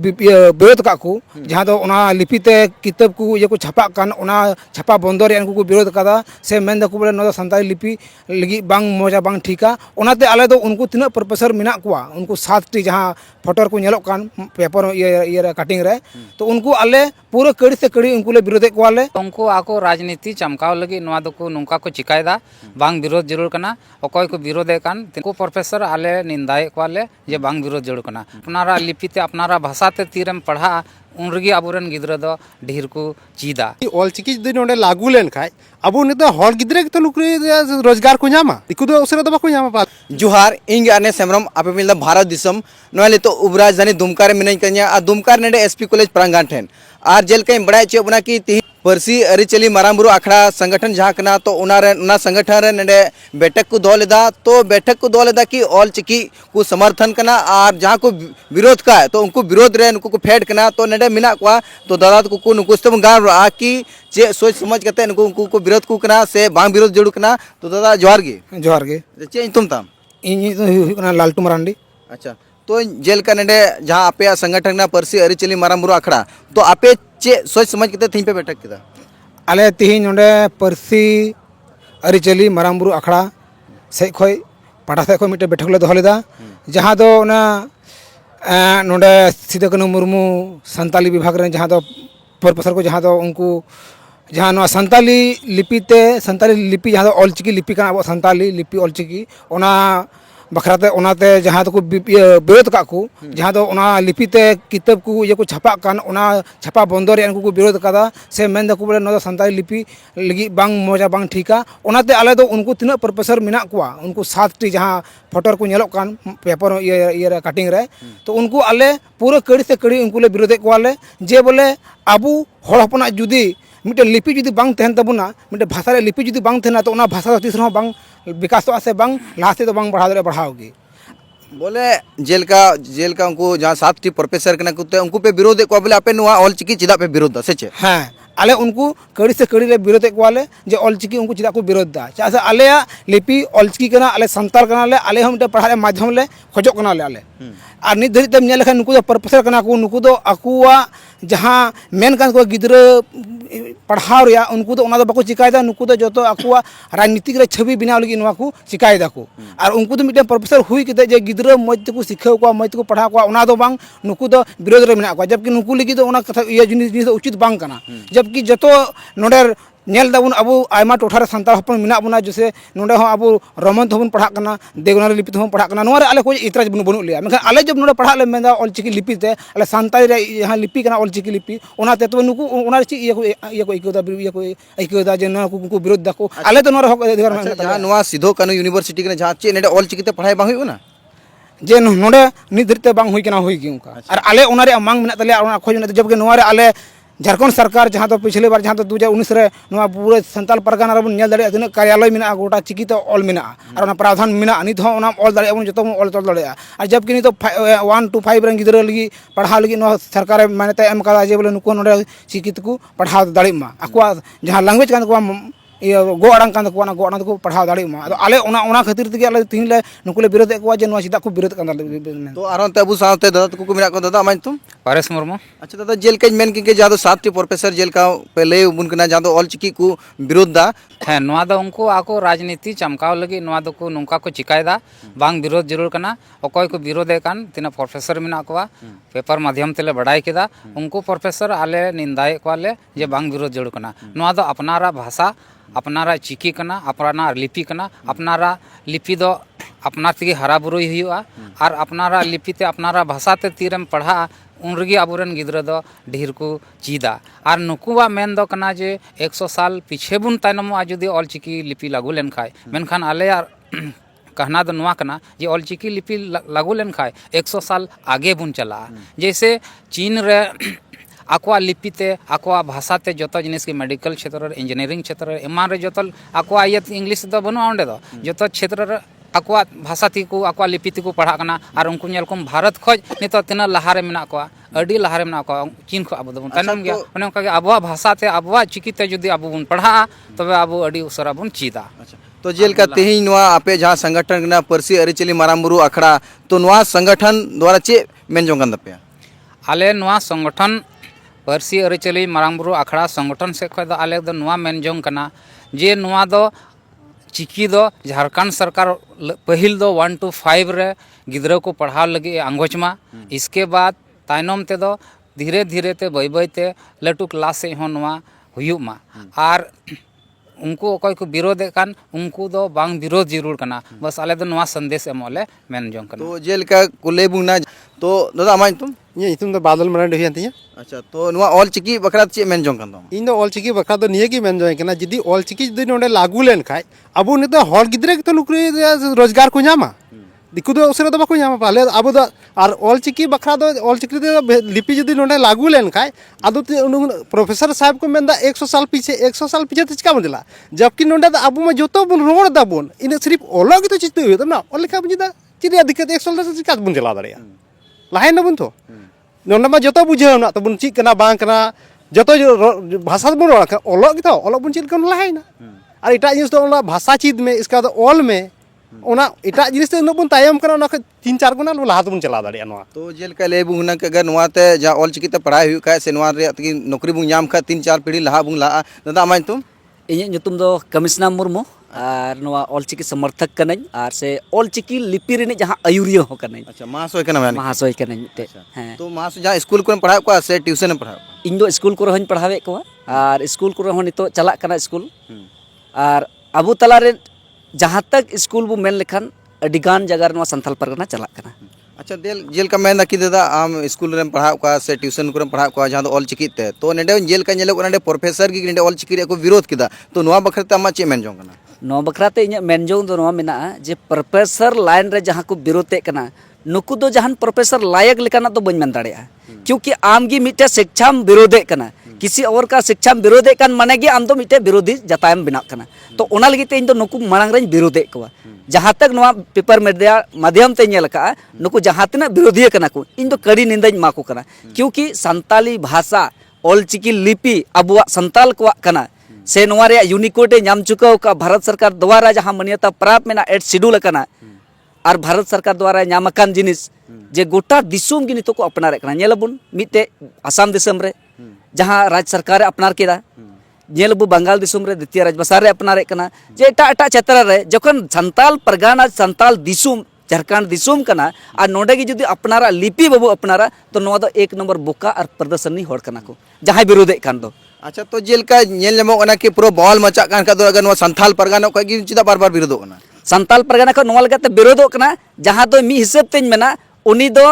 ᱵᱤᱨᱳᱫ ᱟᱠᱟᱫ ᱠᱚ ᱡᱟᱦᱟᱸ ᱫᱚ ᱚᱱᱟ ᱞᱤᱯᱤ ᱛᱮ ᱠᱤᱛᱟᱹᱵ ᱠᱚ ᱤᱭᱟᱹ ᱠᱚ ᱪᱷᱟᱯᱟᱜ ᱠᱟᱱ ᱚᱱᱟ ᱪᱷᱟᱯᱟ ᱵᱚᱱᱫᱚ ᱨᱮᱭᱟᱜ ᱩᱱᱠᱩ ᱠᱚ ᱵᱤᱨᱳᱫ ᱟᱠᱟᱫᱟ ᱥᱮ ᱢᱮᱱ ᱫᱟᱠᱚ ᱵᱚᱞᱮ ᱱᱚᱣᱟ ᱫᱚ ᱥᱟᱱᱛᱟᱞᱤ ᱞᱤᱯᱤ ᱞᱟᱹᱜᱤᱫ ᱵᱟᱝ ᱢᱚᱡᱟ ᱵᱟᱝ ᱴᱷᱤᱠᱟ ᱚᱱᱟᱛᱮ ᱟᱞᱮ ᱫᱚ ᱩᱱᱠᱩ ᱛᱤᱱᱟᱹᱜ ᱯᱨᱚᱯᱷᱮᱥᱚᱨ ᱢᱮᱱᱟᱜ ᱠᱚᱣᱟ ᱩᱱᱠᱩ ᱥᱟᱛᱴᱤ ᱡᱟᱦᱟᱸ ᱯᱷᱳᱴᱳ ᱨᱮᱠᱚ ᱧᱮᱞᱚᱜ ᱠᱟᱱ ᱯᱮᱯᱟᱨ ᱤᱭᱟᱹ ᱨᱮ ᱠᱟᱴᱤᱝ ᱨᱮ ᱛᱚ ᱩᱱᱠᱩ ᱟᱞᱮ ᱯᱩᱨᱟᱹ ᱠᱟᱹᱲᱤ ᱥᱮ ᱠᱟᱹᱲᱤ ᱩᱱᱠᱩ ᱞᱮ ᱵᱤᱨᱳᱫᱮᱫ ᱠᱚᱣᱟ ᱞᱮ ᱩᱱᱠᱩ ᱟᱠᱚ ᱨᱟᱡᱽᱱᱤᱛᱤ ᱪᱟᱢᱠᱟᱣ ᱞᱟᱹᱜᱤᱫ ᱱᱚᱣᱟ ᱫᱚᱠᱚ ᱱᱚᱝᱠᱟ ᱠᱚ ᱪᱤᱠᱟᱭᱮᱫᱟ ᱵᱟᱝ ᱵᱤᱨᱳᱫ ᱡᱟᱹᱨᱩᱲ ᱠᱟᱱᱟ ᱚᱠᱚᱭ ᱠᱚ ᱵᱤᱨᱳᱫᱮᱫ ᱠᱟᱱ ᱩᱱᱠᱩ ᱯᱨᱚᱯᱷᱮᱥᱚᱨ ᱟᱞᱮ ᱱᱤᱱᱫᱟᱭᱮᱫ ᱠᱚᱣᱟ ᱞᱮ ᱡᱮ ᱵᱟᱝ ᱵᱤᱨᱳᱫ ᱡᱟᱹᱨᱩᱲ ᱠᱟᱱᱟ ᱟᱯᱱᱟᱨᱟᱜ ᱞᱤᱯᱤ ᱛᱮ ᱟᱯᱱᱟᱨᱟᱜ ᱵᱷᱟᱥᱟ ᱛᱮ ᱛᱤᱨᱮᱢ ᱯᱟᱲᱦᱟᱜᱼᱟ ᱩᱱ ᱨᱮᱜᱮ ᱟᱵᱚ ᱨᱮᱱ ᱜᱤᱫᱽᱨᱟᱹ ᱫᱚ ᱰᱷᱮᱨ ᱠᱚ ᱪᱮᱫᱟ ᱚᱞᱪᱤᱠᱤ ᱡᱩᱫᱤ ᱱᱚᱰᱮ ᱞᱟᱹᱜᱩ ᱞᱮᱱᱠᱷᱟᱱ ᱟᱵᱚ ᱱᱤᱛᱚᱜ ᱦᱚᱲ ᱜᱤᱫᱽᱨᱟᱹ ᱜᱮᱛᱚ ᱱᱩᱠᱨᱤ ᱨᱳᱡᱽᱜᱟᱨ ᱠᱚ ᱧᱟᱢᱟ ᱫᱤᱠᱩ ᱫᱚ ᱩᱥᱟᱹᱨᱟ ᱫᱚ ᱵᱟᱠᱚ ᱧᱟᱢᱟ ᱵᱟᱫ ᱡᱚᱦᱟᱨ ᱤᱧ ᱟᱱᱮ ᱥᱮᱢᱨᱚᱢ ᱟᱯᱮ ᱢᱤᱞ ᱫᱟ ᱵᱷᱟᱨᱚᱛ ᱫᱤᱥᱚᱢ ᱱᱚᱣᱟ ᱱᱤᱛᱚᱜ ᱩᱵᱽᱨᱟᱡᱽᱫᱷᱟᱱᱤ ᱫᱩᱢᱠᱟ ᱨᱮ ᱢᱤᱱᱟᱹᱧ ᱠᱟᱹᱧᱟ ᱟᱨ ᱫᱩᱢᱠᱟ ᱱᱚᱰᱮ ᱮᱥ ᱯᱤ ᱠᱚᱞᱮᱡᱽ ᱯᱨᱟᱝᱜᱟᱱ ᱴᱷᱮᱱ ᱟᱨ ᱡᱮᱞᱮᱠᱟᱧ ᱵᱟᱲᱟᱭ ᱦᱚᱪᱚᱭᱮᱫ ᱵᱚᱱᱟ ᱠᱤ ᱛᱤᱦᱤᱧ ᱯᱟᱹᱨᱥᱤ ᱟᱹᱨᱤᱪᱟᱹᱞᱤ ᱢᱟᱨᱟᱝ ᱵᱩᱨᱩ ᱟᱠᱷᱲᱟ ᱥᱚᱝᱜᱚᱴᱷᱚᱱ ᱡᱟᱦᱟᱸ ᱠᱟᱱᱟ ᱛᱚ ᱚᱱᱟ ᱨᱮ ᱚᱱᱟ ᱥᱚᱝᱜᱚᱴᱷᱚᱱ ᱨᱮ ᱱᱚᱰᱮ ᱵᱮᱴᱷᱚᱠ ᱠᱚ ᱫᱚᱦᱚ ᱞᱮᱫᱟ ᱛᱚ ᱵᱮᱴᱷᱚᱠ ᱠᱚ ᱫᱚᱦᱚ ᱞᱮᱫᱟ ᱠᱤ ᱚᱞ ᱪᱤᱠᱤ ᱠᱚ ᱥᱚᱢᱚᱨᱛᱷᱚᱱ ᱠᱟᱱᱟ ᱟᱨ ᱡᱟᱦᱟᱸ ᱠᱚ ᱵᱤᱨᱳᱫᱷ ᱠᱟᱜ ᱛᱚ ᱩᱱᱠᱩ ᱵᱤᱨᱳᱫᱷ ᱨᱮ ᱱᱩᱠᱩ ᱠᱚ ᱯᱷᱮᱰ ᱠᱟᱱᱟ ᱛᱚ ᱱᱚᱰᱮ ᱢᱮᱱᱟᱜ ᱠᱚᱣᱟ ᱛᱚ ᱫᱟᱫᱟ ᱛᱟᱠᱚ ᱠᱚ ᱱᱩᱠᱩ ᱥᱟᱛᱮᱜ ᱵᱚᱱ ᱜᱟᱞᱢᱟᱨᱟᱜᱼᱟ ᱠᱤ ᱪᱮᱫ ᱥᱚᱪ ᱥᱚᱢᱟᱡᱽ ᱠᱟᱛᱮ ᱱᱩᱠᱩ ᱩᱱᱠᱩ ᱠᱚ ᱵᱤᱨᱳᱫ ᱠᱚ ᱠᱟᱱᱟ ᱥᱮ ᱵᱟᱝ ᱵᱤᱨᱳᱫ ᱡᱟᱹᱨᱩᱲ ᱠᱟᱱᱟ ᱛᱚ ᱫᱟᱫᱟ ᱡᱚᱦᱟᱨ ᱜᱮ ᱡᱚᱦᱟᱨ ᱜᱮ ᱟᱪᱪᱷᱟ, ᱪᱮᱫ ᱧᱩᱛᱩᱢ ᱛᱟᱢ ᱤᱧ ᱧᱩᱛᱩᱢ ᱦᱩᱭᱩᱜ ᱠᱟᱱᱟ ᱞᱟᱞᱴᱩ ᱢᱟᱨᱟᱱᱰᱤ ᱟᱪᱪᱷᱟ ᱛᱚ ᱡᱮᱞᱮᱠᱟ ᱱᱚᱰᱮ ᱡᱟᱦᱟᱸ ᱟᱯᱮᱭᱟᱜ ᱥᱚᱝᱜᱚᱴᱷᱚᱱ ᱨᱮᱱᱟᱜ ᱯᱟᱹᱨᱥᱤ ᱟᱹᱨᱤᱪᱟᱹᱞᱤ ᱢᱟᱨᱟᱝ ᱵᱩᱨᱩ ᱟᱠᱷᱲᱟ ᱛᱚ ᱟᱯᱮ ᱪᱮᱫ ᱥᱚᱪ ᱥᱚᱢᱟᱡᱽ ᱠᱟᱛᱮ ᱛᱮᱦᱮᱧ ᱯᱮ ᱵᱮᱴᱷᱟᱠ ᱠᱮᱫᱟ ᱟᱞᱮ ᱛᱮᱦᱮᱧ ᱱᱚᱰᱮ ᱯᱟᱹᱨᱥᱤ ᱟᱹᱨᱤᱪᱟᱹᱞᱤ ᱢᱟᱨᱟᱝ ᱵᱩᱨᱩ ᱟᱠᱷᱲᱟ ᱥᱮᱡ ᱠᱷᱚᱡ ᱯᱟᱦᱴᱟ ᱥᱮᱡ ᱠᱷᱚᱡ ᱢᱤᱫᱴᱮᱱ ᱵᱮᱴᱷᱚᱠ ᱞᱮ ᱫᱚᱦᱚ ᱞᱮᱫᱟ ᱡᱟᱦᱟᱸ ᱫᱚ ᱚᱱᱟ ᱮᱸ, ᱱᱚᱰᱮ ᱥᱤᱫᱩ ᱠᱟᱹᱱᱦᱩ ᱢᱩᱨᱢᱩ ᱥᱟᱱᱛᱟᱞᱤ ᱵᱤᱵᱷᱟᱜᱽ ᱨᱮᱱ ᱡᱟᱦᱟᱸ ᱫᱚ ᱯᱨᱚᱯᱷᱮᱥᱚᱨ ᱠᱚ ᱡᱟᱦᱟᱸ ᱫᱚ ᱩᱱᱠᱩ ᱡᱟᱦᱟᱸ ᱱᱚᱣᱟ ᱥᱟᱱᱛᱟᱞᱤ ᱞᱤᱯᱤ ᱛᱮ ᱥᱟᱱᱛᱟᱞᱤ ᱞᱤᱯᱤ ᱡᱟᱦᱟᱸ ᱫᱚ ᱚᱞᱪᱤᱠᱤ ᱞᱤᱯᱤ ᱠᱟᱱᱟ ᱟᱵᱚᱣᱟᱜ ᱥᱟᱱᱛᱟᱞᱤ ᱞᱤᱯᱤ ᱚᱞᱪᱤᱠᱤ ᱚᱱᱟ ᱵᱟᱠᱷᱨᱟ ᱛᱮ ᱚᱱᱟᱛᱮ ᱡᱟᱦᱟᱸ ᱫᱚᱠᱚ ᱤᱭᱟᱹ ᱵᱤᱨᱳᱫ ᱟᱠᱟᱫ ᱠᱚ ᱡᱟᱦᱟᱸ ᱫᱚ ᱚᱱᱟ ᱞᱤᱯᱤ ᱛᱮ ᱠᱤᱛᱟᱹᱵ ᱠᱚ ᱤᱭᱟᱹ ᱠᱚ ᱪᱷᱟᱯᱟᱜ ᱠᱟᱱ ᱚᱱᱟ ᱪᱷᱟᱯᱟ ᱵᱚᱱᱫᱚ ᱨᱮᱭᱟᱜ ᱩᱱᱠᱩ ᱠᱚ ᱵᱤᱨᱳᱫ ᱟᱠᱟᱫᱟ ᱥᱮ ᱢᱮᱱ ᱫᱟᱠᱚ ᱵᱚᱞᱮ ᱱᱚᱣᱟ ᱫᱚ ᱥᱟᱱᱛᱟᱞᱤ ᱞᱤᱯᱤ ᱞᱟᱹᱜᱤᱫ ᱵᱟᱝ ᱢᱚᱡᱟ ᱵᱟᱝ ᱴᱷᱤᱠᱟ ᱚᱱᱟᱛᱮ ᱟᱞᱮ ᱫᱚ ᱩᱱᱠᱩ ᱛᱤᱱᱟᱹᱜ ᱯᱨᱚᱯᱷᱮᱥᱚᱨ ᱢᱮᱱᱟᱜ ᱠᱚᱣᱟ ᱩᱱᱠᱩ ᱥᱟᱛᱴᱤ ᱡᱟᱦᱟᱸ ᱯᱷᱳᱴᱳ ᱨᱮᱠᱚ ᱧᱮᱞᱚᱜ ᱠᱟᱱ ᱯᱮᱯᱟᱨ ᱤᱭᱟᱹ ᱨᱮ ᱠᱟᱴᱤᱝ ᱨᱮ ᱛᱚ ᱩᱱᱠᱩ ᱟᱞᱮ ᱯᱩᱨᱟᱹ ᱠᱟᱹᱲᱤ ᱥᱮ ᱠᱟᱹᱲᱤ ᱩᱱᱠᱩ ᱞᱮ ᱵᱤᱨᱳᱫᱷᱮᱫ ᱠᱚᱣᱟᱞᱮ ᱡᱮ ᱵᱚᱞᱮ ᱟᱵᱚ ᱦᱚᱲ ᱦᱚᱯᱚᱱᱟᱜ ᱡᱩᱫᱤ ᱢᱤᱫᱴᱮᱱ ᱞᱤᱯᱤ ᱡᱩᱫᱤ ᱵᱟᱝ ᱛᱟᱦᱮᱱ ᱛᱟᱵᱚᱱᱟ ᱢᱤᱫᱴᱮᱱ ᱵᱷᱟᱥᱟ ᱨᱮᱭᱟᱜ ᱞᱤᱯᱤ ᱡᱩᱫᱤ ᱵᱟᱝ ᱛᱟᱦᱮᱱᱟ ᱛᱚ ᱚᱱᱟ ᱵᱷᱟᱥᱟ ᱫᱚ ᱛᱤᱥ ᱨᱮᱦᱚᱸ ᱵᱟᱝ ᱵᱤᱠᱟᱥᱚᱜᱼᱟ ᱥᱮ ᱵᱟᱝ ᱞᱟᱦᱟ ᱥᱮᱫ ᱫᱚ ᱵᱟᱝ ᱵᱟᱲᱦᱟᱣ ᱫᱟᱲᱮᱭᱟᱜᱼᱟ ᱵᱟᱲᱦᱟᱣ ᱜᱮ ᱵᱚᱞᱮ ᱡᱮᱞᱮᱠᱟ ᱡᱮᱞᱮᱠᱟ ᱩᱱᱠᱩ ᱡᱟᱦᱟᱸ ᱥᱟᱛᱴᱤ ᱯᱨᱚᱯᱷᱮᱥᱚᱨ ᱠᱟᱱᱟ ᱠᱚ ᱩᱱᱠᱩ ᱯᱮ ᱵᱤᱨᱳᱫᱷᱮᱫ ᱠᱚᱣᱟ ᱵᱚᱞᱮ ᱟᱯᱮ ᱱᱚᱣᱟ ᱚᱞ ᱪᱤᱠᱤ ᱪᱮᱫᱟᱜ ᱯᱮ ᱵᱤᱨᱳᱫᱷᱟ ᱥᱮ ᱪᱮᱫ ᱦᱮᱸ ᱟᱞᱮ ᱩᱱᱠᱩ ᱠᱟᱹᱲᱤ ᱥᱮ ᱠᱟᱹᱲᱤ ᱞᱮ ᱵᱤᱨᱳᱫᱷᱮᱫ ᱠᱚᱣᱟᱞᱮ ᱡᱮ ᱚᱞ ᱪᱤᱠᱤ ᱩᱱᱠᱩ ᱪᱮᱫᱟᱜ ᱠᱚ ᱵᱤᱨᱳᱫᱷ ᱮᱫᱟ ᱪᱮᱫᱟᱜ ᱥᱮ ᱟᱞᱮᱭᱟᱜ ᱞᱤᱯᱤ ᱚᱞ ᱪᱤᱠᱤ ᱠᱟᱱᱟ ᱟᱞᱮ ᱥᱟᱱᱛᱟᱲ ᱠᱟᱱᱟᱞᱮ ᱟᱞᱮ ᱦᱚᱸ ᱢᱤᱫᱴᱮᱱ ᱯᱟᱲᱦᱟᱜ ᱨᱮᱭᱟᱜ ᱢᱟᱫᱽᱫᱷᱚᱢ ᱞᱮ ᱠᱷᱚᱡᱚᱜ ᱠᱟᱱᱟᱞᱮ ᱟᱞᱮ ᱟᱨ ᱱᱤᱛ ᱫᱷᱟᱹᱨᱤᱡ ᱛᱮᱢ ᱧᱮᱞ ᱞᱮᱠᱷᱟᱱ ᱱᱩᱠᱩ ᱫᱚ ᱯᱨᱚᱯᱷᱮᱥᱚᱨ ᱠᱟᱱᱟ ᱠᱚ ᱱᱩᱠᱩ ᱫᱚ ᱟᱠᱚᱣᱟᱜ ᱡᱟᱦᱟᱸ ᱢᱮᱱ ᱠᱟᱱ ᱛᱟᱠᱚᱣᱟ ᱜᱤᱫᱽᱨᱟᱹ ᱯᱟᱲᱦᱟᱣ ᱨᱮᱭᱟᱜ ᱩᱱᱠᱩ ᱫᱚ ᱚᱱᱟ ᱫᱚ ᱵᱟᱠᱚ ᱪᱤᱠᱟᱹᱭᱮᱫᱟ ᱱᱩᱠᱩ ᱫᱚ ᱡᱚᱛᱚ ᱟᱠᱚᱣᱟᱜ ᱨᱟᱡᱽᱱᱤᱛᱤᱠ ᱨᱮ ᱪᱷᱚᱵᱤ ᱵᱮᱱᱟᱣ ᱞᱟᱹᱜᱤᱫ ᱱᱚᱣᱟ ᱠᱚ ᱪᱤᱠᱟᱹᱭ ᱫᱟᱠᱚ ᱟᱨ ᱩᱱᱠᱩ ᱫᱚ ᱢᱤᱫᱴᱮᱱ ᱯᱨᱚᱯᱷᱮᱥᱚᱨ ᱦᱩᱭ ᱠᱟᱛᱮᱫ ᱡᱮ ᱜᱤᱫᱽᱨᱟᱹ ᱢᱚᱡᱽ ᱛᱮᱠᱚ ᱥᱤᱠᱷᱟᱹᱣ ᱠᱚᱣᱟ ᱢᱚᱡᱽ ᱛᱮᱠᱚ ᱯᱟᱲᱦᱟᱣ ᱠᱚᱣᱟ ᱚᱱᱟ ᱫᱚ ᱵᱟᱝ ᱱᱩᱠᱩ ᱫᱚ ᱵᱤᱨᱳᱫᱷ ᱨᱮ ᱢᱮᱱᱟᱜ ᱠᱚᱣᱟ ᱡᱚᱵᱽᱠᱤ ᱱᱩᱠᱩ ᱞᱟᱹᱜᱤᱫ ᱫᱚ ᱚᱱᱟ ᱠᱟᱛᱷᱟ ᱤᱭᱟᱹ ᱡᱤᱱᱤᱥ ᱫᱚ ᱩᱪᱤᱛ ᱵᱟᱝ ᱠᱟᱱᱟ ᱡᱚᱵᱽᱠᱤ ᱡᱚᱛᱚ ᱱᱚᱰᱮ ᱧᱮᱞ ᱫᱟᱵᱚᱱ ᱟᱵᱚ ᱟᱭᱢᱟ ᱴᱚᱴᱷᱟ ᱨᱮ ᱥᱟᱱᱛᱟᱲ ᱦᱚᱯᱚᱱ ᱢᱮᱱᱟᱜ ᱵᱚᱱᱟ ᱡᱮᱥᱮ ᱱᱚᱰᱮ ᱦᱚᱸ ᱟᱵᱚ ᱨᱚᱢᱟᱱ ᱛᱮᱦᱚᱸ ᱵᱚᱱ ᱯᱟᱲᱦᱟᱜ ᱠᱟᱱᱟ ᱫᱮᱵᱽᱱᱟᱜᱚᱨᱤ ᱞᱤᱯᱤ ᱛᱮᱦᱚᱸ ᱵᱚᱱ ᱯᱟᱲᱦᱟᱜ ᱠᱟᱱᱟ ᱱᱚᱣᱟ ᱨᱮ ᱟᱞᱮ ᱠᱚ ᱤᱛᱨᱟᱡᱽ ᱵᱟᱹᱱᱩᱜ ᱞᱮᱭᱟ ᱢᱮᱱᱠᱷᱟᱱ ᱟᱞᱮ ᱡᱚᱵᱽ ᱱᱚᱰᱮ ᱯᱟᱲᱦᱟᱜ ᱞᱮ ᱢᱮᱱᱫᱟ ᱚᱞ ᱪᱤᱠᱤ ᱞᱤᱯᱤ ᱛᱮ ᱟᱞᱮ ᱥᱟᱱᱛᱟᱲᱤ ᱨᱮ ᱡᱟᱦᱟᱸ ᱞᱤᱯᱤ ᱠᱟᱱᱟ ᱚᱞ ᱪᱤᱠᱤ ᱞᱤᱯᱤ ᱚᱱᱟᱛᱮ ᱛᱚᱵᱮ ᱱᱩᱠᱩ ᱚᱱᱟ ᱨᱮ ᱪᱮᱫ ᱤᱭᱟᱹ ᱠᱚ ᱤᱭᱟᱹ ᱠᱚ ᱟᱹᱭᱠᱟᱹᱣᱫᱟ ᱤᱭᱟᱹ ᱠᱚ ᱟᱹᱭᱠᱟᱹᱣᱫᱟ ᱡᱮ ᱱᱚᱣᱟ ᱠᱚ ᱩᱱᱠᱩ ᱵᱤᱨᱳᱫᱷ ᱫᱟᱠᱚ ᱟᱞᱮ ᱫᱚ ᱱᱚᱣᱟ ᱨᱮ ᱦᱚᱸ ᱚᱫᱷᱤᱠᱟᱨ ᱢᱮᱱᱟᱜ ᱛᱟᱞᱮᱭᱟ ᱡᱟᱦᱟᱸ ᱱᱚᱣᱟ ᱥᱤᱫᱷᱳ ᱠᱟᱹᱱᱩ ᱤᱭᱩᱱᱤᱵᱷᱟᱨᱥᱤᱴᱤ ᱠᱟᱱᱟ ᱡᱟᱦᱟᱸ ᱪᱮᱫ ᱱᱚᱰᱮ ᱚᱞ ᱪᱤᱠᱤ ᱛᱮ ᱯᱟᱲᱦᱟᱣ ᱵᱟᱝ ᱦᱩᱭᱩᱜ ᱠᱟᱱᱟ ᱡᱮ ᱱᱚᱰᱮ ᱱᱤᱛ ᱫᱷᱟᱹᱨᱤᱡ ᱛᱮ ᱵᱟᱝ ᱦᱩᱭ ᱠᱟᱱᱟ ᱦᱩᱭ ᱜᱮ ᱚᱱᱠᱟ ᱟᱨ ᱟᱞᱮ ᱚᱱᱟ ᱨᱮᱭᱟᱜ ᱢᱟᱝ ᱢᱮᱱᱟᱜ ᱛᱟᱞᱮᱭᱟ ᱚᱱᱟ ᱠᱷᱚᱡᱽ ᱢᱮᱱᱟᱜ ᱛᱟᱞᱮᱭᱟ ᱡᱚᱵᱽ ᱜᱮ ᱱᱚᱣᱟ ᱨᱮ ᱟᱞᱮ ᱡᱷᱟᱲᱠᱷᱚᱸᱰ ᱥᱚᱨᱠᱟᱨ ᱡᱟᱦᱟᱸ ᱫᱚ ᱯᱤᱪᱷᱞᱤ ᱵᱟᱨ ᱡᱟᱦᱟᱸ ᱫᱚ ᱫᱩ ᱦᱟᱡᱟᱨ ᱩᱱᱤᱥ ᱨᱮ ᱱᱚᱣᱟ ᱯᱩᱨᱟᱹ ᱥᱟᱱᱛᱟᱲ ᱯᱟᱨᱜᱟᱱᱟ ᱨᱮᱵᱚᱱ ᱧᱮᱞ ᱫᱟᱲᱮᱭᱟᱜᱼᱟ ᱛᱤᱱᱟᱹᱜ ᱠᱟᱨᱭᱟᱞᱚᱭ ᱢᱮᱱᱟᱜᱼᱟ ᱜᱚᱴᱟ ᱪᱤᱠᱤ ᱛᱮ ᱚᱞ ᱢᱮᱱᱟᱜᱼᱟ ᱟᱨ ᱚᱱᱟ ᱯᱨᱟᱣᱫᱷᱟᱱ ᱢᱮᱱᱟᱜᱼᱟ ᱱᱤᱛ ᱦᱚᱸ ᱚᱱᱟᱢ ᱚᱞ ᱫᱟᱲᱮᱭᱟᱜᱼᱟ ᱵᱚᱱ ᱡᱚᱛᱚ ᱵᱚᱱ ᱚᱞ ᱛᱚᱞ ᱫᱟᱲᱮᱭᱟᱜᱼᱟ ᱟᱨ ᱡᱟᱵᱽ ᱠᱤ ᱱᱤᱛᱚᱜ ᱚᱣᱟᱱ ᱴᱩ ᱯᱷᱟᱭᱤᱵᱽ ᱨᱮᱱ ᱜᱤᱫᱽᱨᱟᱹ ᱞᱟᱹᱜᱤᱫ ᱯᱟᱲᱦᱟᱣ ᱞᱟᱹᱜᱤᱫ ᱱᱚᱣᱟ ᱥᱚᱨᱠᱟᱨᱮ ᱢᱟᱱᱚᱛᱮ ᱮᱢ ᱠᱟᱫᱟ ᱡᱮ ᱵᱚᱞᱮ ᱱᱩᱠᱩ ᱱᱚᱰᱮ ᱪᱤᱠᱤ ᱛᱮᱠᱚ ᱯᱟᱲᱦᱟᱣ ᱫᱟᱲᱮᱜ ᱢᱟ ᱟᱠᱚᱣᱟᱜ ᱡᱟᱦᱟᱸ ᱞᱮᱝᱜᱩᱭᱮᱡᱽ ᱠᱟᱱ ᱛᱟᱠᱚᱣᱟ ᱤᱭᱟᱹ ᱜᱚ ᱟᱲᱟᱝ ᱠᱟᱱ ᱛᱟᱠᱚᱣᱟ ᱚᱱᱟ ᱜᱚ ᱟᱲᱟᱝ ᱛᱮᱠᱚ ᱯᱟᱲᱦᱟᱣ ᱫᱟᱲᱮᱭᱟᱜ ᱢᱟ ᱟᱫᱚ ᱟᱞᱮ ᱚᱱᱟ ᱚᱱᱟ ᱠᱷᱟᱹᱛᱤᱨ ᱛᱮᱜᱮ ᱟᱞᱮ ᱛᱤᱦᱤᱧ ᱞᱮ ᱱᱩᱠᱩ ᱞᱮ ᱵᱤᱨᱳᱫᱮᱫ ᱠᱚᱣᱟ ᱡᱮ ᱱᱚᱣᱟ ᱪᱮᱫᱟᱜ ᱠᱚ ᱵᱤᱨᱳᱫ ᱠᱟᱱᱟ ᱛᱚ ᱟᱨᱦᱚᱸ ᱱᱚᱛᱮ ᱟᱵᱚ ᱥᱟᱶᱛᱮ ᱫᱟᱫᱟ ᱛᱟᱠᱚ ᱠᱚ ᱢᱮᱱᱟᱜ ᱠᱚᱣᱟ ᱫᱟᱫᱟ ᱟᱢᱟᱜ ᱧᱩᱛᱩᱢ ᱯᱟᱨᱮᱥ ᱢᱩᱨᱢᱩ ᱟᱪᱪᱷᱟ ᱫᱟᱫᱟ ᱡᱮᱞᱮᱠᱟᱧ ᱢᱮᱱ ᱠᱮᱫ ᱜᱮ ᱡᱟᱦᱟᱸ ᱫᱚ ᱥᱟᱛᱴᱤ ᱯᱨᱚᱯᱷᱮᱥᱚᱨ ᱡᱮᱞᱮᱠᱟ ᱯᱮ ᱞᱟᱹᱭ ᱟᱵᱚᱱ ᱠᱟᱱᱟ ᱡᱟᱦᱟᱸ ᱫᱚ ᱚᱞ ᱪᱤᱠᱤ ᱠᱚ ᱵᱤᱨᱳᱫ ᱫᱟ ᱦᱮᱸ ᱱᱚᱣᱟ ᱫᱚ ᱩᱱᱠᱩ ᱟᱠᱚ ᱨᱟᱡᱽᱱᱤᱛᱤ ᱪᱟᱢᱠᱟᱣ ᱞᱟᱹᱜᱤᱫ ᱱᱚᱣᱟ ᱫᱚᱠᱚ ᱱᱚᱝᱠᱟ ᱠᱚ ᱪᱤᱠᱟᱹᱭᱮᱫᱟ ᱵᱟᱝ ᱵᱤᱨᱳᱫ ᱡᱟᱹᱨᱩᱲ ᱠᱟᱱᱟ ᱚᱠᱚᱭ ᱠᱚ ᱵᱤᱨᱳᱫᱮᱫ ᱠᱟᱱ ᱛᱤᱱᱟᱹᱜ ᱯᱨᱚᱯᱷᱮᱥᱚᱨ ᱢᱮᱱᱟᱜ ᱠᱚᱣᱟ ᱯᱮᱯᱟᱨ ᱢᱟᱫᱽᱫᱷᱚᱢ ᱛᱮᱞᱮ ᱵᱟᱰᱟᱭ ᱠᱮᱫᱟ ᱩᱱᱠᱩ ᱯᱨᱚᱯᱷᱮᱥᱚᱨ ᱟᱞᱮ ᱱᱤᱱᱫᱟᱭᱮᱫ ᱠᱚᱣᱟᱞᱮ ᱡᱮ ᱵᱟᱝ ᱵᱤᱨᱳᱫᱷ ᱡᱟᱹᱨᱩᱲ ᱠᱟᱱᱟ ᱱᱚᱣᱟ ᱫᱚ ᱟᱯᱱᱟᱨᱟᱜ ᱵᱷᱟᱥᱟ ᱟᱯᱱᱟᱨᱟᱜ ᱪᱤᱠᱤ ᱠᱟᱱᱟ ᱟᱯᱱᱟᱨᱟᱜ ᱞᱤᱯᱤ ᱠᱟᱱᱟ ᱟᱯᱱᱟᱨᱟᱜ ᱞᱤᱯᱤ ᱫᱚ ᱟᱯᱱᱟᱨ ᱛᱮᱜᱮ ᱦᱟᱨᱟ ᱵᱩᱨᱩᱭ ᱦᱩᱭᱩᱜᱼᱟ ᱟᱨ ᱟᱯᱱᱟᱨᱟᱜ ᱞᱤᱯᱤ ᱛᱮ ᱟᱯᱱᱟᱨᱟᱜ ᱵᱷᱟᱥᱟ ᱛᱮ ᱛᱤᱨᱮᱢ ᱯᱟᱲᱦᱟᱜᱼᱟ ᱩᱱ ᱨᱮᱜᱮ ᱟᱵᱚ ᱨᱮᱱ ᱜᱤᱫᱽᱨᱟᱹ ᱫᱚ ᱰᱷᱮᱨ ᱠᱚ ᱪᱮᱫᱟ ᱟᱨ ᱱᱩᱠᱩᱣᱟᱜ ᱢᱮᱱ ᱫᱚ ᱠᱟᱱᱟ ᱡᱮ ᱮᱠᱥᱚ ᱥᱟᱞ ᱯᱤᱪᱷᱮ ᱵᱚᱱ ᱛᱟᱭᱱᱚᱢᱚᱜᱼᱟ ᱡᱩᱫᱤ ᱚᱞ ᱪᱤᱠᱤ ᱞᱤᱯᱤ ᱞᱟᱹᱜᱩ ᱞᱮᱱᱠᱷᱟᱱ ᱢᱮᱱᱠᱷᱟᱱ ᱟᱞᱮᱭᱟᱜ ᱠᱟᱦᱱᱟ ᱫᱚ ᱱᱚᱣᱟ ᱠᱟᱱᱟ ᱡᱮ ᱚᱞ ᱪᱤᱠᱤ ᱞᱤᱯᱤ ᱞᱟᱹᱜᱩ ᱞᱮᱱ ᱠᱷᱟᱱ ᱮᱠᱥᱚ ᱥᱟᱞ ᱟᱜᱮ ᱵᱚᱱ ᱪᱟᱞᱟᱜᱼᱟ ᱡᱮᱭᱥᱮ ᱪᱤᱱ ᱨᱮ ᱟᱠᱚᱣᱟᱜ ᱞᱤᱯᱤ ᱛᱮ ᱟᱠᱚᱣᱟᱜ ᱵᱷᱟᱥᱟ ᱛᱮ ᱡᱚᱛᱚ ᱡᱤᱱᱤᱥ ᱜᱮ ᱢᱮᱰᱤᱠᱮᱞ ᱪᱷᱮᱛᱨᱚ ᱨᱮ ᱤᱧᱡᱤᱱᱤᱭᱟᱨᱤᱝ ᱪᱷᱮᱛᱨᱚ ᱨᱮ ᱮᱢᱟᱱ ᱨᱮ ᱡᱚᱛᱚ ᱟᱠᱚᱣᱟᱜ ᱤᱭᱟᱹ ᱤᱝᱞᱤᱥ ᱫᱚ ᱵᱟᱹᱱᱩᱜᱼᱟ ᱚᱸᱰᱮ ᱫᱚ ᱡᱚᱛᱚ ᱪᱷᱮᱛᱨᱚ ᱨᱮ ᱟᱠᱚᱣᱟᱜ ᱵᱷᱟᱥᱟ ᱛᱮᱜᱮ ᱠᱚ ᱟᱠᱚᱣᱟᱜ ᱞᱤᱯᱤ ᱛᱮᱠᱚ ᱯᱟᱲᱦᱟᱜ ᱠᱟᱱᱟ ᱟᱨ ᱩᱱᱠᱩ ᱧᱮᱞ ᱠᱚᱢ ᱵᱷᱟᱨᱚᱛ ᱠᱷᱚᱱ ᱱᱤᱛᱚᱜ ᱛᱤᱱᱟᱹᱜ ᱞᱟᱦᱟ ᱨᱮ ᱢᱮᱱᱟᱜ ᱠᱚᱣᱟ ᱟᱹᱰᱤ ᱞᱟᱦᱟ ᱨᱮ ᱢᱮᱱᱟᱜ ᱠᱚᱣᱟ ᱪᱤᱱ ᱠᱷᱚᱱ ᱟᱵᱚ ᱫᱚᱵᱚᱱ ᱛᱟᱭᱱᱚᱢ ᱜᱮᱭᱟ ᱚᱱᱮ ᱚᱱᱠᱟ ᱜᱮ ᱟᱵᱚᱣᱟᱜ ᱵᱷᱟᱥᱟ ᱛᱮ ᱟᱵᱚᱣᱟᱜ ᱪᱤᱠᱤ ᱛᱮ ᱡᱩᱫᱤ ᱟᱵᱚ ᱵᱚᱱ ᱯᱟᱲᱦᱟᱜᱼᱟ ᱛᱚᱵᱮ ᱟᱵᱚ ᱟᱹᱰᱤ ᱩᱥᱟᱹᱨᱟ ᱵᱚᱱ ᱪᱮᱫᱟ ᱛᱚ ᱡᱮᱞᱮᱠᱟ ᱛᱮᱦᱮᱧ ᱱᱚᱣᱟ ᱟᱯᱮ ᱡᱟᱦᱟᱸ ᱥᱚᱝᱜᱚᱴᱷᱚᱱ ᱠᱟᱱᱟ ᱯᱟᱹᱨᱥᱤ ᱟᱹᱨᱤᱪᱟᱹᱞᱤ ᱢᱟᱨᱟᱝ ᱵᱩᱨᱩ ᱟᱠᱷᱲᱟ ᱛᱚ ᱱᱚᱣᱟ ᱥᱚᱝᱜᱚᱴᱷᱚᱱ ᱫᱚᱣᱟᱨᱟ ᱪᱮᱫ ᱢᱮᱱ ᱡᱚᱝ ᱠᱟᱱ ᱛᱟᱯᱮᱭᱟ ᱟᱞᱮ ᱱᱚᱣᱟ ᱥᱚᱝᱜᱚᱴᱷᱚᱱ ᱯᱟᱹᱨᱥᱤ ᱟᱹᱨᱤᱪᱟᱹᱞᱤ ᱢᱟᱨᱟᱝ ᱵᱩᱨᱩ ᱟᱠᱷᱲᱟ ᱥᱚᱝᱜᱚᱴᱷᱚᱱ ᱥᱮᱫ ᱠᱷᱚᱱ ᱫᱚ ᱟᱞᱮ ᱫᱚ ᱱᱚᱣᱟ ᱢᱮᱱ ᱡᱚᱝ ᱠᱟᱱᱟ ᱡᱮ ᱱᱚᱣᱟ ᱫᱚ ᱪᱤᱠᱤ ᱫᱚ ᱡᱷᱟᱲᱠᱷᱚᱸᱰ ᱥᱚᱨᱠᱟᱨ ᱯᱟᱹᱦᱤᱞ ᱫᱚ ᱚᱣᱟᱱ ᱴᱩ ᱯᱷᱟᱭᱤᱵᱷ ᱨᱮ ᱜᱤᱫᱽᱨᱟᱹ ᱠᱚ ᱯᱟᱲᱦᱟᱣ ᱞᱟᱹᱜᱤᱫ ᱟᱸᱜᱚᱪ ᱢᱟ ᱤᱥᱠᱮ ᱵᱟᱫ ᱛᱟᱭᱱᱚᱢ ᱛᱮᱫᱚ ᱫᱷᱤᱨᱮ ᱫᱷᱤᱨᱮ ᱛᱮ ᱵᱟᱹᱭ ᱵᱟᱹᱭ ᱛᱮ ᱞᱟᱹᱴᱩ ᱠᱞᱟᱥ ᱥᱮᱫ ᱦᱚᱸ ᱱᱚᱣᱟ ᱦᱩᱭᱩᱜ ᱢᱟ ᱟᱨ ᱩᱱᱠᱩ ᱚᱠᱚᱭ ᱠᱚ ᱵᱤᱨᱳᱫᱷ ᱮᱫ ᱠᱟᱱ ᱩᱱᱠᱩ ᱫᱚ ᱵᱟᱝ ᱵᱤᱨᱳᱫᱷ ᱡᱟᱹᱨᱩᱲ ᱠᱟᱱᱟ ᱵᱟᱥ ᱟᱞᱮ ᱫᱚ ᱱᱚᱣᱟ ᱥᱟᱸᱫᱮᱥ ᱮᱢᱚᱜ ᱞᱮ ᱢᱮᱱ ᱡᱚᱝ ᱠᱟᱱᱟ ᱛᱚ ᱡᱮᱞᱮᱠᱟ ᱠᱚ ᱞᱟᱹᱭ ᱵᱚᱱᱟ ᱛᱚ ᱫᱟᱫᱟ ᱟᱢᱟᱜ ᱧᱩᱛᱩᱢ ᱤᱧᱟᱹᱜ ᱧᱩᱛᱩᱢ ᱫᱚ ᱵᱟᱫᱚᱞ ᱢᱟᱨᱟᱱᱰᱤ ᱦᱩᱭᱮᱱ ᱛᱤᱧᱟᱹ ᱟᱪᱪᱷᱟ ᱛᱚ ᱱᱚᱣᱟ ᱚᱞ ᱪᱤᱠᱤ ᱵᱟᱠᱷᱨᱟ ᱪᱮᱫ ᱢᱮᱱ ᱡᱚᱝ ᱠᱟᱱ ᱛᱟᱢᱟ ᱤᱧ ᱫᱚ ᱚᱞ ᱪᱤᱠᱤ ᱵᱟᱠᱷᱨᱟ ᱫᱚ ᱱᱤᱭᱟᱹ ᱜᱮ ᱢᱮᱱ ᱡᱚᱝ ᱠᱟᱱᱟ ᱡᱩᱫᱤ ᱚᱞ ᱪᱤᱠᱤ ᱡᱩᱫᱤ ᱱᱚᱰᱮ ᱞᱟᱹᱜᱩ ᱞᱮᱱᱠᱷᱟᱱ ᱟᱵᱚ ᱱᱤᱛᱚᱜ ᱦᱚᱲ ᱜᱤᱫᱽᱨᱟᱹ ᱜᱮᱛᱚ ᱱᱩᱠᱨᱤ ᱨᱮᱭᱟᱜ ᱨᱳᱡᱽᱜᱟᱨ ᱠᱚ ᱧᱟᱢᱟ ᱫᱤᱠᱩ ᱫᱚ ᱩᱥᱟᱹᱨᱟ ᱫᱚ ᱵᱟᱠᱚ ᱧᱟᱢᱟ ᱟᱞᱮ ᱟᱵᱚ ᱫᱚ ᱟᱨ ᱚᱞᱪᱤᱠᱤ ᱵᱟᱠᱷᱨᱟ ᱫᱚ ᱚᱞᱪᱤᱠᱤ ᱛᱮ ᱞᱤᱯᱤ ᱡᱩᱫᱤ ᱱᱚᱰᱮ ᱞᱟᱹᱜᱩ ᱞᱮᱱᱠᱷᱟᱡ ᱟᱫᱚ ᱩᱱᱟᱹᱜ ᱯᱨᱚᱯᱷᱮᱥᱟᱨ ᱥᱟᱦᱮᱵᱽ ᱠᱚ ᱢᱮᱱᱫᱟ ᱮᱠᱥᱚ ᱥᱟᱞ ᱯᱤᱪᱷᱮ ᱮᱠᱥᱚ ᱥᱟᱞ ᱯᱤᱪᱷᱮ ᱛᱮ ᱪᱤᱠᱟ ᱵᱚᱱ ᱪᱟᱞᱟᱜᱼᱟ ᱡᱟᱵᱽᱠᱤ ᱱᱚᱰᱮ ᱫᱚ ᱟᱵᱚ ᱢᱟ ᱡᱚᱛᱚ ᱵᱚᱱ ᱨᱚᱲ ᱫᱟᱵᱚᱱ ᱤᱱᱟᱹ ᱥᱤᱨᱤᱯ ᱚᱞᱚᱜ ᱜᱮᱛᱚ ᱪᱮᱫ ᱛᱮ ᱦᱩᱭᱩᱜ ᱛᱟᱵᱚᱱᱟ ᱚᱞ ᱞᱮᱠᱷᱟᱡ ᱵᱚᱱ ᱪᱮᱫᱟ ᱪᱮᱫ ᱨᱮᱭᱟᱜ ᱫᱤᱠᱠᱟᱹᱛ ᱮᱠᱥᱚ ᱥᱟᱞ ᱪᱤᱠᱟ ᱛᱮᱵᱚᱱ ᱪᱟᱞᱟᱣ ᱫᱟᱲᱮᱭᱟᱜᱼᱟ ᱞᱟᱦᱟᱭ ᱱᱟᱵᱚᱱ ᱛᱚ ᱱᱚᱰᱮ ᱢᱟ ᱡᱚᱛᱚ ᱵᱩᱡᱷᱟᱹᱣ ᱢᱮᱱᱟᱜ ᱛᱟᱵᱚᱱ ᱪᱮᱫ ᱠᱟᱱᱟ ᱵᱟᱝ ᱠᱟᱱᱟ ᱡᱚᱛᱚ ᱵᱷᱟᱥᱟ ᱛᱮᱵᱚᱱ ᱨᱚᱲ ᱠᱷᱟᱡ ᱚᱞᱚᱜ ᱜᱮᱛᱚ ᱚᱞᱚᱜ ᱵᱚᱱ ᱪᱮᱫ ᱞᱮᱠᱷᱟᱱ ᱞᱟᱦᱟᱭᱮᱱᱟ ᱟᱨ ᱮᱴᱟᱜ ᱡᱤᱱᱤᱥ ᱫᱚ ᱚᱱᱟ ᱵᱷᱟᱥᱟ ᱪᱮᱫ ᱢᱮ ᱤᱥᱠᱮ ᱵᱟᱫ ᱚᱞ ᱢᱮ ᱚᱱᱟ ᱮᱴᱟᱜ ᱡᱤᱱᱤᱥ ᱛᱮ ᱩᱱᱟᱹᱜ ᱵᱚᱱ ᱛᱟᱭᱚᱢ ᱠᱟᱱᱟ ᱚᱱᱟ ᱠᱷᱚᱱ ᱛᱤᱱ ᱪᱟᱨ ᱜᱩᱱᱟ ᱟᱵᱚ ᱞᱟᱦᱟ ᱛᱮᱵᱚᱱ ᱪᱟᱞᱟᱣ ᱫᱟᱲᱮᱭᱟᱜᱼᱟ ᱱᱚᱣᱟ ᱛᱚ ᱡᱮᱞᱮᱠᱟ ᱞᱟᱹᱭ ᱟᱵᱚᱱ ᱠᱟᱱᱟ ᱠᱟᱜᱟ ᱱᱚᱣᱟ ᱛᱮ ᱡᱟᱦᱟᱸ ᱚᱞ ᱪᱤᱠᱤ ᱛᱮ ᱯᱟᱲᱦᱟᱣ ᱦᱩᱭᱩᱜ ᱠᱷᱟᱡ ᱥᱮ ᱱᱚᱣᱟ ᱨᱮᱭᱟᱜ ᱛᱮᱜᱮ ᱱᱚᱠᱨᱤ ᱵᱚᱱ ᱧᱟᱢ ᱠᱷᱟᱡ ᱛᱤᱱ ᱪᱟᱨ ᱯᱤᱲᱦᱤ ᱞᱟᱦᱟ ᱵᱚᱱ ᱞᱟᱦᱟᱜᱼᱟ ᱫᱟᱫᱟ ᱟᱢᱟᱜ ᱧᱩᱛᱩᱢ ᱤᱧᱟᱹᱜ ᱧᱩᱛᱩᱢ ᱫᱚ ᱠᱟᱢᱤᱥᱱᱟ ᱢᱩᱨᱢᱩ ᱟᱨ ᱱᱚᱣᱟ ᱚᱞ ᱪᱤᱠᱤ ᱥᱚᱢᱚᱨᱛᱷᱚᱠ ᱠᱟᱹᱱᱟᱹᱧ ᱟᱨ ᱥᱮ ᱚᱞ ᱪᱤᱠᱤ ᱞᱤᱯᱤ ᱨᱤᱱᱤᱡ ᱡᱟᱦᱟᱸ ᱟᱹᱭᱩᱨᱤᱭᱟᱹ ᱦᱚᱸ ᱠᱟᱹᱱᱟᱹᱧ ᱟᱪᱪᱷᱟ ᱢᱟᱦᱟᱥᱚᱭ ᱠᱟᱱᱟᱢ ᱭᱟᱱᱤ ᱢᱟᱦᱟᱥᱚᱭ ᱠᱟᱹᱱᱟᱹᱧ ᱢᱤᱫᱴᱮᱡ ᱦᱮᱸ ᱛᱚ ᱢᱟᱦᱟᱥᱚᱭ ᱡᱟᱦᱟᱸ ᱥᱠᱩᱞ ᱠᱚᱨᱮᱢ ᱯᱟᱲᱦᱟᱣ ᱠᱚᱣᱟ ᱥᱮ ᱴᱤᱭᱩᱥᱚᱱ ᱮᱢ ᱯᱟᱲᱦᱟᱣ ᱠᱚᱣᱟ ᱤᱧ ᱫᱚ ᱥᱠᱩᱞ ᱠᱚᱨᱮ ᱦᱚᱸᱧ ᱯᱟᱲᱦᱟᱣᱮᱫ ᱠᱚᱣᱟ ᱟᱨ ᱥᱠᱩᱞ ᱠᱚᱨᱮ ᱦᱚᱸ ᱱᱤᱛᱚᱜ ᱪᱟᱞᱟᱜ ᱠᱟᱱᱟ ᱥᱠᱩᱞ ᱟᱨ ᱟᱵᱚ ᱛᱟᱞᱟ ᱨᱮ ᱡᱟᱦᱟᱸ ᱛᱟᱠ ᱥᱠᱩᱞ ᱵᱚ ᱢᱮᱱ ᱞᱮᱠᱷᱟᱱ ᱟᱹᱰᱤ ᱜᱟᱱ ᱡᱟᱭᱜᱟ ᱨᱮ ᱱᱚᱣᱟ ᱥᱟᱱᱛᱟᱞ ᱯᱟᱨᱜᱟᱱᱟ ᱪᱟᱞᱟᱜ ᱠᱟᱱᱟ ᱟᱪᱪᱷᱟ ᱫᱮᱞ ᱡᱮᱞᱮᱠᱟ ᱢᱮᱱ ᱫᱟ ᱠᱤ ᱫᱟᱫᱟ ᱟᱢ ᱥᱠᱩᱞ ᱨᱮᱢ ᱯᱟᱲᱦᱟᱣ ᱠᱚᱣᱟ ᱥᱮ ᱴᱤᱭᱩᱥᱚᱱ ᱠᱚᱨᱮᱢ ᱯᱟᱲᱦᱟᱣ ᱠᱚᱣᱟ ᱡᱟᱦᱟᱸ ᱫᱚ ᱚᱞ ᱪᱤᱠᱤ ᱛᱮ ᱛᱚ ᱱᱚᱰᱮ ᱡᱮᱞᱮᱠᱟ ᱧᱮᱞᱚᱜ ᱠᱟᱱᱟ ᱱᱚᱰᱮ ᱯᱨᱚᱯᱷᱮᱥᱚᱨ ᱜᱮ ᱱᱚᱰᱮ ᱚᱞ ᱪᱤᱠᱤ ᱨᱮᱭᱟᱜ ᱠᱚ ᱵᱤᱨᱳᱫ ᱠᱮᱫᱟ ᱛᱚ ᱱᱚᱣᱟ ᱵᱟᱠᱷᱨᱟ ᱛᱮ ᱟᱢᱟᱜ ᱪᱮᱫ ᱢᱮᱱ ᱡᱚᱝ ᱠᱟᱱᱟ ᱱᱚᱣᱟ ᱵᱟᱠᱷᱨᱟ ᱛᱮ ᱤᱧᱟᱹᱜ ᱢᱮᱱ ᱡᱚᱝ ᱫᱚ ᱱᱚᱣᱟ ᱢᱮᱱᱟᱜᱼᱟ ᱡᱮ ᱯᱨᱚᱯᱷᱮᱥᱚᱨ ᱞᱟᱭᱤᱱ ᱨᱮ ᱡᱟᱦᱟᱸ ᱠᱚ ᱵᱤᱨᱳᱫᱮᱫ ᱠᱟᱱᱟ ᱱᱩᱠᱩ ᱫᱚ ᱡᱟᱦᱟᱱ ᱯᱨᱚᱯᱷᱮᱥᱚᱨ ᱞᱟᱭᱮᱠ ᱞᱮᱠᱟᱱᱟᱜ ᱫᱚ ᱵᱟᱹᱧ ᱢᱮᱱ ᱫᱟᱲᱮᱭᱟᱜᱼᱟ ᱪᱩᱠᱤ ᱟᱢ ᱜᱮ ᱢᱤᱫᱴᱮᱱ ᱥᱤᱠᱪᱷᱟᱢ ᱵᱤᱨᱳᱫᱮᱫ ᱠᱟᱱᱟ ᱠᱤᱥᱤ ᱚᱣᱚᱨ ᱠᱟ ᱥᱤᱠᱪᱷᱟᱢ ᱵᱤᱨᱳᱫᱮᱫ ᱠᱟᱱ ᱢᱟᱱᱮ ᱜᱮ ᱟᱢ ᱫᱚ ᱢᱤᱫᱴᱮᱱ ᱵᱤᱨᱳᱫᱷᱤ ᱡᱟᱛᱟᱭᱮᱢ ᱵᱮᱱᱟᱜ ᱠᱟᱱᱟ ᱛᱚ ᱚᱱᱟ ᱞᱟᱹᱜᱤᱫ ᱛᱮ ᱤᱧ ᱫᱚ ᱱᱩᱠᱩ ᱢᱟᱲᱟᱝ ᱨᱮᱧ ᱵᱤᱨᱳᱫᱮᱫ ᱠᱚᱣᱟ ᱡᱟᱦᱟᱸ ᱛᱟᱠ ᱱᱚᱣᱟ ᱯᱮᱯᱟᱨ ᱢᱤᱰᱤᱭᱟ ᱢᱟᱫᱷᱭᱚᱢ ᱛᱮ ᱧᱮᱞ ᱟᱠᱟᱜᱼᱟ ᱱᱩᱠᱩ ᱡᱟᱦᱟᱸ ᱛᱤᱱᱟᱹᱜ ᱵᱤᱨᱳᱫᱷᱤᱭᱟᱹ ᱠᱟᱱᱟ ᱠᱚ ᱤᱧ ᱫᱚ ᱠᱟᱹᱲᱤ ᱱᱤᱸᱫᱟᱹᱧ ᱮᱢᱟ ᱠᱚ ᱠᱟᱱᱟ ᱠᱤᱭᱩᱠᱤ ᱥᱟᱱᱛᱟᱞᱤ ᱵᱷᱟᱥᱟ ᱚᱞᱪᱤᱠᱤ ᱞᱤᱯᱤ ᱟᱵᱚᱣᱟᱜ ᱥᱟᱱᱛᱟᱞ ᱠᱚᱣᱟᱜ ᱠᱟᱱᱟ ᱥᱮ ᱱᱚᱣᱟ ᱨᱮᱭᱟᱜ ᱭᱩᱱᱤᱠᱳᱰ ᱮ ᱧᱟᱢ ᱪᱩᱠᱟᱹᱣ ᱟᱠᱟᱫ ᱵᱷᱟᱨᱚᱛ ᱥᱚᱨᱠᱟᱨ ᱫᱚᱣᱟᱨᱟ ᱡᱟᱦᱟᱸ ᱢᱟᱹᱱᱭᱟᱹᱛᱟ ᱯᱨᱟᱯᱛ ᱢᱮᱱᱟᱜ ᱮᱰ ᱥᱤᱰᱩᱞ ᱟᱠᱟᱱᱟ ᱟᱨ ᱵᱷᱟᱨᱚᱛ ᱥᱚᱨᱠᱟᱨ ᱫᱣᱟᱨᱟ ᱧᱟᱢ ᱟᱠᱟᱱ ᱡᱤᱱᱤᱥ ᱡᱮ ᱜᱚᱴᱟ ᱫᱤᱥᱚᱢ ᱜᱮ ᱱᱤᱛᱚᱜ ᱠᱚ ᱟᱯᱱᱟᱨᱮᱫ ᱠᱟᱱᱟ ᱧᱮᱞ ᱟᱵᱚᱱ ᱢᱤᱫᱴᱮᱡ ᱟᱥᱟᱢ ᱫᱤᱥᱚᱢ ᱨᱮ ᱡᱟᱦᱟᱸ ᱨᱟᱡᱽ ᱥᱚᱨᱠᱟᱨᱮ ᱟᱯᱱᱟᱨ ᱠᱮᱫᱟ ᱧᱮᱞ ᱟᱵᱚ ᱵᱟᱝᱜᱟᱞ ᱫᱤᱥᱚᱢ ᱨᱮ ᱫᱤᱛᱤᱭᱟ ᱨᱟᱡᱽ ᱵᱷᱟᱥᱟ ᱨᱮ ᱟᱯᱱᱟᱨᱮᱫ ᱠᱟᱱᱟ ᱡᱮ ᱮᱴᱟᱜ ᱮᱴᱟᱜ ᱪᱷᱮᱛᱨᱚ ᱨᱮ ᱡᱚᱠᱷᱚᱱ ᱥᱟᱱᱛᱟᱞ ᱯᱟᱨᱜᱟᱱᱟ ᱥᱟᱱᱛᱟᱞ ᱫᱤᱥᱚᱢ ᱡᱷᱟᱨᱠᱷᱚᱸᱰ ᱫᱤᱥᱚᱢ ᱠᱟᱱᱟ ᱟᱨ ᱱᱚᱰᱮ ᱜᱮ ᱡᱩᱫᱤ ᱟᱯᱱᱟᱨᱟᱜ ᱞᱤᱯᱤ ᱵᱟᱵᱚ ᱟᱯᱱᱟᱨᱟ ᱛᱚ ᱱᱚᱣᱟ ᱫᱚ ᱮᱠ ᱱᱚᱢᱵᱚᱨ ᱵᱚᱠᱟ ᱟᱨ ᱯᱨᱚᱫᱚᱨᱥᱚᱱᱤ ᱦᱚᱲ ᱠᱟᱱᱟ ᱠᱚ ᱡᱟᱦᱟᱸᱭ ᱵᱤᱨᱳᱫᱮᱫ ᱠᱟᱱ ᱫᱚ ᱟᱪᱪᱷᱟ ᱛᱚ ᱡᱮᱞᱮᱠᱟ ᱧᱮᱞ ᱧᱟᱢᱚᱜ ᱠᱟᱱᱟ ᱠᱤ ᱯᱩᱨᱟᱹ ᱵᱟᱣᱟᱞ ᱢᱟᱪᱟᱜ ᱠᱟᱱ ᱠᱷᱟᱡ ᱫᱚ ᱟᱜᱟᱨ ᱱᱚᱣᱟ ᱥᱟᱱᱛᱷᱟᱞ ᱯᱟᱨᱜᱟᱱᱟ ᱠᱷᱚᱡ ᱜᱮ ᱪᱮᱫᱟᱜ ᱵᱟᱨ ᱵᱟᱨ ᱵᱤᱨᱳᱫᱚᱜ ᱠᱟᱱᱟ ᱥᱟᱱᱛᱟᱞ ᱯᱟᱨᱜᱟᱱᱟ ᱠᱷᱚᱡ ᱱᱚᱣᱟ ᱞᱮᱠᱟᱛᱮ ᱵᱤᱨᱳᱫᱚᱜ ᱠᱟᱱᱟ ᱡᱟᱦᱟᱸ ᱫᱚ ᱢᱤᱫ ᱦᱤᱥᱟᱹᱵ ᱛᱮᱧ ᱢᱮᱱᱟ ᱩᱱᱤ ᱫᱚ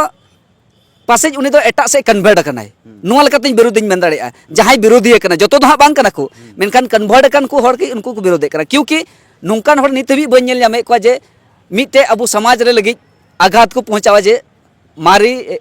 ᱯᱟᱥᱮᱡ ᱩᱱᱤ ᱫᱚ ᱮᱴᱟᱜ ᱥᱮᱫ ᱠᱚᱱᱵᱷᱟᱨᱴ ᱟᱠᱟᱱᱟᱭ ᱱᱚᱣᱟ ᱞᱮᱠᱟᱛᱮᱧ ᱵᱤᱨᱳᱫᱤᱧ ᱢᱮᱱ ᱫᱟᱲᱮᱭᱟᱜᱼᱟ ᱡᱟᱦᱟᱸᱭ ᱵᱤᱨᱳᱫᱤᱭᱮ ᱠᱟᱱᱟ ᱡᱚᱛᱚ ᱫᱚ ᱦᱟᱸᱜ ᱵᱟᱝ ᱠᱟᱱᱟ ᱠᱚ ᱢᱮᱱᱠᱷᱟᱱ ᱠᱚᱱᱵᱷᱟᱨᱴ ᱟᱠᱟᱱ ᱠᱚ ᱦᱚᱲ ᱜᱮ ᱩᱱᱠᱩ ᱠᱚ ᱵᱤᱨᱳᱫᱮᱫ ᱠᱟᱱᱟ ᱠᱤᱭᱩᱠᱤ ᱱᱚᱝᱠᱟᱱ ᱦᱚᱲ ᱱᱤᱛ ᱦᱟᱹᱵᱤᱡ ᱵᱟᱹᱧ ᱧᱮᱞ ᱧᱟᱢᱮᱫ ᱠᱚᱣᱟ ᱡᱮ ᱢᱤᱫᱴᱮᱡ ᱟᱵᱚ ᱥᱚᱢᱟᱡᱽ ᱨᱮ ᱞᱟᱹᱜᱤᱫ ᱟᱜᱷᱟᱛ ᱠᱚ ᱯᱚᱦᱚᱸᱪᱟᱣᱟ ᱡᱮ ᱢᱟᱨᱮ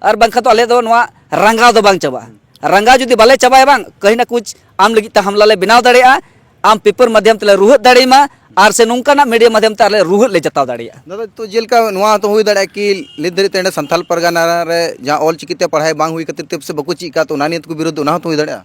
ᱟᱨ ᱵᱟᱝᱠᱷᱟᱱ ᱫᱚ ᱟᱞᱮ ᱫᱚ ᱱᱚᱣᱟ ᱨᱟᱸᱜᱟᱣ ᱫᱚ ᱵᱟᱝ ᱪᱟᱵᱟᱜᱼᱟ ᱨᱟᱸᱜᱟᱣ ᱡᱩᱫᱤ ᱵᱟᱞᱮ ᱪᱟᱵᱟᱭᱟ ᱵᱟᱝ ᱠᱟᱹᱦᱤ ᱱᱟ ᱠᱩᱪ ᱟᱢ ᱞᱟᱹᱜᱤᱫ ᱛᱮ ᱦᱟᱢᱞᱟ ᱞᱮ ᱵᱮᱱᱟᱣ ᱫᱟᱲᱮᱭᱟᱜᱼᱟ ᱟᱢ ᱯᱮᱯᱟᱨ ᱢᱟᱫᱷᱭᱚᱢ ᱛᱮᱞᱮ ᱨᱩᱦᱮᱫ ᱫᱟᱲᱮᱭᱟᱢᱟ ᱟᱨ ᱥᱮ ᱱᱚᱝᱠᱟᱱᱟᱜ ᱢᱤᱰᱤᱭᱟ ᱢᱟᱫᱷᱭᱚᱢ ᱛᱮ ᱟᱞᱮ ᱨᱩᱦᱮᱫ ᱞᱮ ᱡᱟᱛᱟᱣ ᱫᱟᱲᱮᱭᱟᱜᱼᱟ ᱫᱟᱫᱟ ᱛᱚ ᱡᱮᱞᱮᱠᱟ ᱱᱚᱣᱟ ᱦᱚᱸᱛᱚ ᱦᱩᱭ ᱫᱟᱲᱮᱭᱟᱜᱼᱟ ᱠᱤ ᱱᱤᱛ ᱫᱷᱟᱹᱨᱤᱡ ᱛᱮ ᱱᱚᱰᱮ ᱥᱟᱱᱛᱟᱞ ᱯᱟᱨᱜᱟᱱᱟ ᱨᱮ ᱡᱟᱦᱟᱸ ᱚᱞ ᱪᱤᱠᱤ ᱛᱮ ᱯᱟᱲᱦᱟᱣ ᱵᱟᱝ ᱦᱩᱭ ᱠᱷᱟᱹᱛᱤᱨ ᱛᱮ ᱯᱟᱥᱮᱡ ᱵᱟᱠᱚ ᱪᱮᱫ ᱟᱠᱟᱫ ᱛᱚ ᱚᱱᱟ ᱱᱤᱭᱮ ᱛᱮᱠᱚ ᱵᱤᱨᱳᱫᱷ ᱚᱱᱟ ᱦᱚᱸᱛᱚ ᱦᱩᱭ ᱫᱟᱲᱮᱭᱟᱜᱼᱟ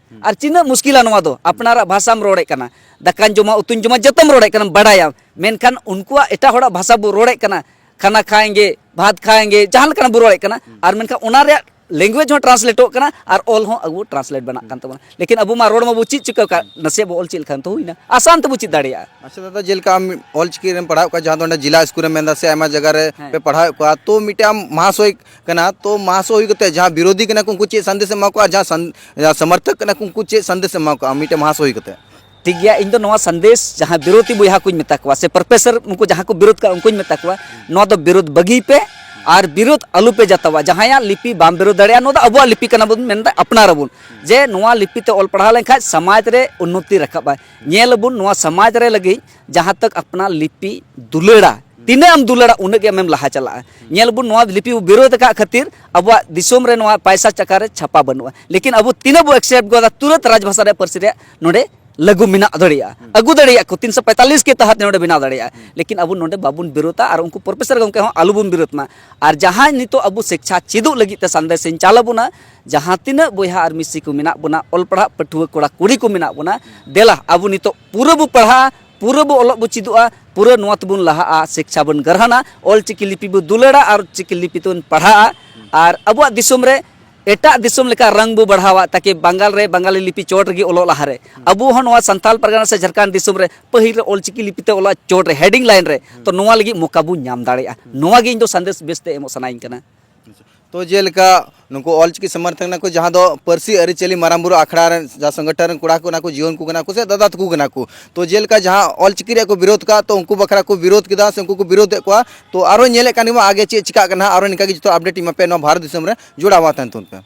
ᱟᱨ ᱪᱤᱱᱟᱹᱜ ᱢᱩᱥᱠᱤᱞᱟ ᱱᱚᱣᱟ ᱫᱚ ᱟᱯᱱᱟᱨᱟᱜ ᱵᱷᱟᱥᱟᱢ ᱨᱚᱲᱮᱫ ᱠᱟᱱᱟ ᱫᱟᱠᱟᱧ ᱡᱚᱢᱟ ᱩᱛᱩᱧ ᱡᱚᱢᱟ ᱡᱚᱛᱚᱢ ᱨᱚᱲᱮᱫ ᱠᱟᱱᱟ ᱵᱟᱰᱟᱭᱟᱢ ᱢᱮᱱᱠᱷᱟᱱ ᱩᱱᱠᱩᱣᱟᱜ ᱮᱴᱟᱜ ᱦᱚᱲᱟᱜ ᱵᱷᱟᱥᱟ ᱵᱚ ᱨᱚᱲᱮᱫ ᱠᱟᱱᱟ ᱠᱷᱟᱱᱟ ᱠᱷᱟᱭᱮᱸᱜᱮ ᱵᱷᱟᱛ ᱠᱷᱟᱭᱮᱸᱜᱮ ᱡᱟᱦᱟᱸ ᱞᱮᱠᱟᱱᱟᱜ ᱵᱚ ᱨᱚᱲᱮᱫ ᱠᱟᱱᱟ ᱟᱨ ᱢᱮᱱᱠᱷᱟᱱ ᱚᱱᱟ ᱨᱮᱭᱟᱜ ᱞᱮᱝᱜᱩᱭᱮᱡᱽ ᱦᱚᱸ ᱴᱨᱟᱱᱥᱞᱮᱴᱚᱜ ᱠᱟᱱᱟ ᱟᱨ ᱚᱞ ᱦᱚᱸ ᱟᱵᱚ ᱴᱨᱟᱱᱥᱞᱮᱴ ᱵᱮᱱᱟᱜ ᱠᱟᱱ ᱛᱟᱵᱚᱱᱟ ᱞᱮᱠᱤᱱ ᱟᱵᱚ ᱢᱟ ᱨᱚᱲ ᱢᱟᱵᱚ ᱪᱮᱫ ᱪᱤᱠᱟᱹ ᱠᱟᱜ ᱱᱟᱥᱮ ᱵᱚ ᱚᱞ ᱪᱮᱫ ᱞᱮᱠᱷᱟᱱ ᱛᱚ ᱦᱩᱭᱱᱟ ᱟᱥᱟᱱ ᱛᱮᱵᱚ ᱪᱮᱫ ᱫᱟᱲᱮᱭᱟᱜᱼᱟ ᱟᱪᱪᱷᱟ ᱫᱟᱫᱟ ᱡᱮᱞᱮᱠᱟ ᱟᱢ ᱚᱞ ᱪᱤᱠᱤ ᱨᱮᱢ ᱯᱟᱲᱦᱟᱣ ᱠᱚᱣᱟ ᱡᱟᱦᱟᱸ ᱫᱚ ᱚᱸᱰᱮ ᱡᱮᱞᱟ ᱥᱠᱩᱞ ᱨᱮᱢ ᱢᱮᱱᱫᱟ ᱥᱮ ᱟᱭᱢᱟ ᱡᱟᱭᱜᱟ ᱨᱮ ᱯᱮ ᱯᱟᱲᱦᱟᱣᱮᱫ ᱠᱚᱣᱟ ᱛᱚ ᱢᱤᱫᱴᱮᱱ ᱟᱢ ᱢᱟᱦᱟᱥᱚᱭ ᱠᱟᱱᱟ ᱛᱚ ᱢᱟᱥ ᱦᱩᱭ ᱠᱟᱛᱮ ᱡᱟᱦᱟᱸ ᱵᱤᱨᱳᱫᱷᱤ ᱠᱟᱱᱟ ᱠᱚ ᱩᱱᱠᱩ ᱪᱮᱫ ᱥᱟᱸᱫᱮᱥ ᱮᱢᱟ ᱠᱚᱣᱟ ᱟᱨ ᱡᱟᱦᱟᱸ ᱥᱚᱢᱚᱨᱛᱷᱚᱠ ᱠᱟᱱᱟ ᱠᱚ ᱩᱱᱠᱩ ᱪᱮᱫ ᱥᱟᱸᱫᱮᱥ ᱮᱢᱟ ᱠᱚᱣᱟ ᱢᱤᱫᱴᱮᱱ ᱢᱟᱥ ᱦᱩᱭ ᱠᱟᱛᱮ ᱴᱷᱤᱠ ᱜᱮᱭᱟ ᱤᱧ ᱫᱚ ᱱᱚᱣᱟ ᱥᱟᱸᱫᱮᱥ ᱡᱟᱦᱟᱸ ᱵᱤᱨᱳᱫᱷᱤ ᱵᱚᱭᱦᱟ ᱠᱚᱧ ᱢᱮᱛᱟ ᱠᱚᱣᱟ ᱥᱮ ᱯᱨᱚᱯᱷᱮᱥᱚᱨ ᱩᱱᱠᱩ ᱡᱟᱦᱟᱸ ᱠᱚ ᱵᱤᱨᱳᱫᱷ ᱠᱟᱜ ᱩᱱᱠᱩᱧ ᱢᱮᱛᱟ ᱠᱚᱣᱟ ᱱᱚᱣᱟ ᱫᱚ ᱵᱤᱨᱳᱫᱷ ᱵᱟᱹᱜᱤᱭ ᱯᱮ ᱟᱨ ᱵᱤᱨᱳᱫᱷ ᱟᱞᱚ ᱯᱮ ᱡᱟᱛᱟᱣᱟ ᱡᱟᱦᱟᱸᱭᱟᱜ ᱞᱤᱯᱤ ᱵᱟᱢ ᱵᱤᱨᱳᱫᱷ ᱫᱟᱲᱮᱭᱟᱜᱼᱟ ᱱᱚᱣᱟ ᱫᱚ ᱟᱵᱚᱣᱟᱜ ᱞᱤᱯᱤ ᱠᱟᱱᱟ ᱵᱚᱱ ᱢᱮᱱᱫᱟ ᱟᱯᱱᱟᱨᱟᱵᱚᱱ ᱡᱮ ᱱᱚᱣᱟ ᱞᱤᱯᱤ ᱛᱮ ᱚᱞ ᱯᱟᱲᱦᱟᱣ ᱞᱮᱱᱠᱷᱟᱱ ᱥᱚᱢᱟᱡᱽ ᱨᱮ ᱩᱱᱱᱚᱛᱤ ᱨᱟᱠᱟᱵᱟᱭ ᱧᱮᱞ ᱟᱵᱚᱱ ᱱᱚᱣᱟ ᱥᱚᱢᱟᱡᱽ ᱨᱮ ᱞᱟᱹᱜᱤᱫ ᱡᱟᱦᱟᱸ ᱛᱟᱠ ᱟᱯᱱᱟ ᱞᱤᱯᱤ ᱫᱩᱞᱟᱹᱲᱟ ᱛᱤᱱᱟᱹᱜ ᱮᱢ ᱫᱩᱞᱟᱹᱲᱟ ᱩᱱᱟᱹᱜ ᱜᱮ ᱟᱢᱮᱢ ᱞᱟᱦᱟ ᱪᱟᱞᱟᱜᱼᱟ ᱧᱮᱞ ᱵᱚᱱ ᱱᱚᱣᱟ ᱞᱤᱯᱤ ᱵᱚ ᱵᱤᱨᱳᱫᱷ ᱟᱠᱟᱫ ᱠᱷᱟᱹᱛᱤᱨ ᱟᱵᱚᱣᱟᱜ ᱫᱤᱥᱚᱢ ᱨᱮ ᱱᱚᱣᱟ ᱯᱟᱭᱥᱟ ᱪᱟᱠᱟ ᱨᱮ ᱪᱷᱟᱯᱟ ᱵᱟᱹᱱᱩᱜᱼᱟ ᱞᱮᱠᱤᱱ ᱟᱵᱚ ᱛᱤᱱᱟᱹᱜ ᱵᱚ ᱮᱠᱥᱮᱯᱴ ᱜᱚᱫᱟ ᱛᱩᱨᱟᱹᱛ ᱨᱟᱡᱽᱵᱷᱟᱥᱟ ᱨᱮ ᱯᱟᱹᱨᱥᱤ ᱨᱮ ᱱᱚᱰᱮ ᱞᱟᱹᱜᱩ ᱢᱮᱱᱟᱜ ᱫᱟᱲᱮᱭᱟᱜᱼᱟ ᱟᱹᱜᱩ ᱫᱟᱲᱮᱭᱟᱜ ᱠᱚ ᱛᱤᱱ ᱥᱚ ᱯᱮᱸᱛᱟᱞᱤᱥ ᱠᱮ ᱛᱟᱦᱟᱛ ᱱᱚᱰᱮ ᱵᱮᱱᱟᱣ ᱫᱟᱲᱮᱭᱟᱜᱼᱟ ᱞᱮᱠᱤᱱ ᱟᱵᱚ ᱱᱚᱰᱮ ᱵᱟᱵᱚᱱ ᱵᱤᱨᱳᱫᱷᱟ ᱟᱨ ᱩᱱᱠᱩ ᱯᱨᱚᱯᱷᱮᱥᱚᱨ ᱜᱚᱢᱠᱮ ᱦᱚᱸ ᱟᱞᱚ ᱵᱚᱱ ᱵᱤᱨᱳᱫᱷ ᱢᱟ ᱟᱨ ᱡᱟᱦᱟᱸᱭ ᱱᱤᱛᱚᱜ ᱟᱵᱚ ᱥᱤᱠᱪᱷᱟ ᱪᱮᱫᱚᱜ ᱞᱟᱹᱜᱤᱫ ᱛᱮ ᱥᱟᱸᱫᱮᱥ ᱤᱧ ᱪᱟᱞ ᱟᱵᱚᱱᱟ ᱡᱟᱦᱟᱸ ᱛᱤᱱᱟᱹᱜ ᱵᱚᱭᱦᱟ ᱟᱨ ᱢᱤᱥᱤ ᱠᱚ ᱢᱮᱱᱟᱜ ᱵᱚᱱᱟ ᱚᱞ ᱯᱟᱲᱦᱟᱜ ᱯᱟᱹᱴᱷᱩᱣᱟᱹ ᱠᱚᱲᱟ ᱠᱩᱲᱤ ᱠᱚ ᱢᱮᱱᱟᱜ ᱵᱚᱱᱟ ᱫᱮᱞᱟ ᱟᱵᱚ ᱱᱤᱛᱚᱜ ᱯᱩᱨᱟᱹ ᱵᱚ ᱯᱟᱲᱦᱟᱜᱼᱟ ᱯᱩᱨᱟᱹ ᱵᱚ ᱚᱞᱚᱜ ᱵᱚ ᱪᱮᱫᱚᱜᱼᱟ ᱯᱩᱨᱟᱹ ᱱᱚᱣᱟ ᱛᱮᱵᱚᱱ ᱞᱟᱦᱟᱜᱼᱟ ᱥᱤᱠᱪᱷᱟ ᱵᱚᱱ ᱜᱨᱚᱦᱚᱱᱟ ᱚᱞ ᱪᱤᱠᱤ ᱞᱤᱯᱤ ᱵᱚ ᱫᱩᱞᱟᱹᱲᱟ ᱟᱨ ᱪᱤᱠᱤ ᱞᱤᱯᱤ ᱛᱮᱵᱚᱱ ᱯᱟᱲᱦᱟᱜᱼᱟ ᱟᱨ ᱟᱵᱚᱣᱟᱜ ᱫᱤᱥᱚᱢ ᱨᱮ ᱮᱴᱟᱜ ᱫᱤᱥᱚᱢ ᱞᱮᱠᱟ ᱨᱟᱝ ᱵᱚ ᱵᱟᱲᱦᱟᱣᱟ ᱛᱟᱠᱤ ᱵᱟᱝᱜᱟᱞ ᱨᱮ ᱵᱟᱝᱜᱟᱞᱤ ᱞᱤᱯᱤ ᱪᱚᱴ ᱨᱮᱜᱮ ᱚᱞᱚᱜ ᱞᱟᱦᱟ ᱨᱮ ᱟᱵᱚ ᱦᱚᱸ ᱱᱚᱣᱟ ᱥᱟᱱᱛᱟᱞ ᱯᱟᱨᱜᱟᱱᱟ ᱥᱮ ᱡᱷᱟᱨᱠᱷᱚᱸᱰ ᱫᱤᱥᱚᱢ ᱨᱮ ᱯᱟᱹᱦᱤᱞ ᱨᱮ ᱚᱞ ᱪᱤᱠᱤ ᱞᱤᱯᱤ ᱛᱮ ᱚᱞᱚᱜ ᱪᱚᱴ ᱨᱮ ᱦᱮᱰᱤᱝ ᱞᱟᱭᱤᱱ ᱨᱮ ᱛᱚ ᱱᱚᱣᱟ ᱞᱟᱹᱜᱤᱫ ᱢᱚᱠᱟ ᱵᱚ ᱧᱟᱢ ᱫᱟᱲᱮᱭᱟᱜᱼᱟ ᱱᱚᱣᱟ ᱜᱮ ᱤᱧ ᱫᱚ ᱥᱟᱸᱫᱮᱥ ᱵᱮᱥᱛᱮ ᱮᱢᱚᱜ ᱥᱟᱱᱟᱭᱤᱧ ᱠᱟᱱᱟ ᱛᱚ ᱡᱮᱞᱮᱠᱟ ᱱᱩᱠᱩ ᱚᱞᱪᱤᱠᱤ ᱥᱚᱢᱚᱨᱛᱷᱚᱠ ᱠᱟᱱᱟ ᱠᱚ ᱡᱟᱦᱟᱸ ᱫᱚ ᱯᱟᱹᱨᱥᱤ ᱟᱹᱨᱤᱪᱟᱹᱞᱤ ᱢᱟᱨᱟᱝ ᱵᱩᱨᱩ ᱟᱠᱷᱲᱟ ᱨᱮᱱ ᱡᱟᱦᱟᱸ ᱥᱚᱝᱜᱚᱴᱷᱚᱱ ᱨᱮᱱ ᱠᱚᱲᱟ ᱠᱚ ᱠᱟᱱᱟ ᱠᱚ ᱡᱩᱣᱟᱹᱱ ᱠᱚ ᱠᱟᱱᱟ ᱠᱚ ᱥᱮ ᱫᱟᱫᱟ ᱛᱟᱠᱚ ᱠᱟᱱᱟ ᱠᱚ ᱛᱚ ᱡᱮᱞᱮᱠᱟ ᱡᱟᱦᱟᱸ ᱚᱞᱪᱤᱠᱤ ᱨᱮᱭᱟᱜ ᱠᱚ ᱵᱤᱨᱳᱫᱷ ᱠᱟᱜᱼᱟ ᱛᱚ ᱩᱱᱠᱩ ᱵᱟᱠᱷᱨᱟ ᱠᱚ ᱵᱤᱨᱳᱫᱷ ᱠᱮᱫᱟ ᱥᱮ ᱩᱱᱠᱩ ᱠᱚ ᱵᱤᱨᱳᱫᱷ ᱮᱫ ᱠᱚᱣᱟ ᱛᱚ ᱟᱨᱚ ᱧᱮᱞᱮᱫ ᱠᱟᱱ ᱜᱮᱵᱚᱱ ᱟᱜᱮ ᱪᱮᱫ ᱪᱤᱠᱟᱹᱜ ᱠᱟᱱᱟ ᱟᱨᱚ ᱱᱤᱝᱠᱟ ᱜᱮ ᱡᱚᱛᱚ ᱟᱯᱰᱮᱴ ᱤᱧ ᱮᱢᱟ ᱯᱮᱭᱟ ᱱᱚᱣᱟ ᱵᱷᱟᱨᱚᱛ ᱫᱤᱥᱚᱢ ᱨᱮ ᱡᱚᱲᱟᱣ ᱢᱟ ᱛᱟᱦᱮᱱ ᱛᱟᱵᱚᱱ ᱯᱮ